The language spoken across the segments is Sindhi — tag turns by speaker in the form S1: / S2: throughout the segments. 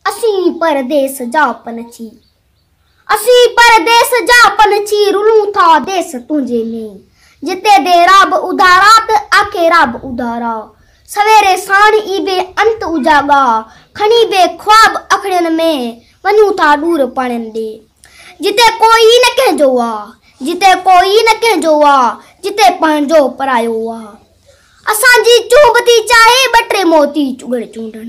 S1: اسين پرديس جا پنڇي اسين پرديس جا پنڇي رلون ٿا ديس تنهنجي ۾ جتي دي را به اڌارا ته آکي را به اڌارا سويري ساڻ ئي بي انت اجاڳا کڻي بي خواب اکڙين ۾ وڃون ٿا ڏور پاڻين ڏي جتي ڪو ئي نه ڪنهن جو آ جتي ڪو ئي نه ڪنهن جو آ جتي پنهنجو پرايو آ اسان جي چونب ٿي چاهي ٻه ٽي موتي چگڙ چونڊڻ.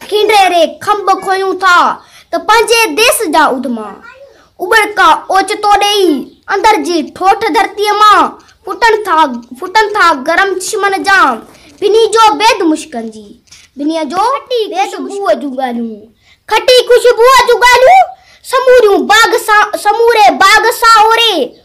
S1: ٿينڊري ري کنڀ کوهيون ٿا ته پنهنجي ديس جا اڌما اٻڙڪا اوچتو ڏيئي اندر جي ٺوٺ ڌرتيء مان ڦٽن ٿا ڦٽن ٿا گرم چشمن جا ڀني جو بيد مشڪن جي ڀنيء جو بيد خوشبوء جون ڳالهيون کٽي خوشبوء جون ڳالهيون سموريون باغ سان سموري باغ سانوري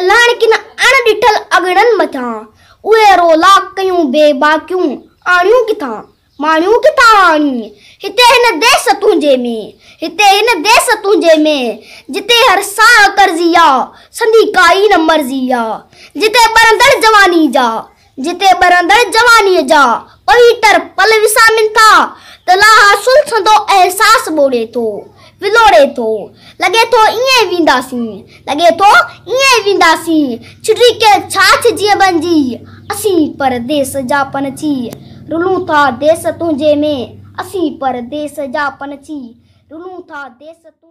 S1: الهاڻي ڪن اڻ ڏٺل اڳڙن مٿان اهي رولا ڪيون بي باڪيون آڻيون ڪٿان ماڻيون ڪٿان آڻين هتي هن ديس تنهنجي ۾ هتي هن ديس تنهنجي ۾ جتي هر ساهه قرضي آ سندي ڪائي نه مرضي آ جتي ٻرندڙ جواني جا جتي ٻرندڙ جوانيء جا پويتر پل وسامين ٿا ته لاها سلسندو احساس ٻوڙي ٿو، ولوڙي ٿو. لڳي ٿو ائين ئي وينداسين، لڳي ٿو ائين ئي وينداسين، ڇٽي ڪنهن ڇاڇ جيئن بنجي. اسين پرديس جا پنڇي، رلون ٿا ديس تنهنجي ۾، اسين پرديس جا پنڇي، رلون ٿا ديس تنهنجي ۾.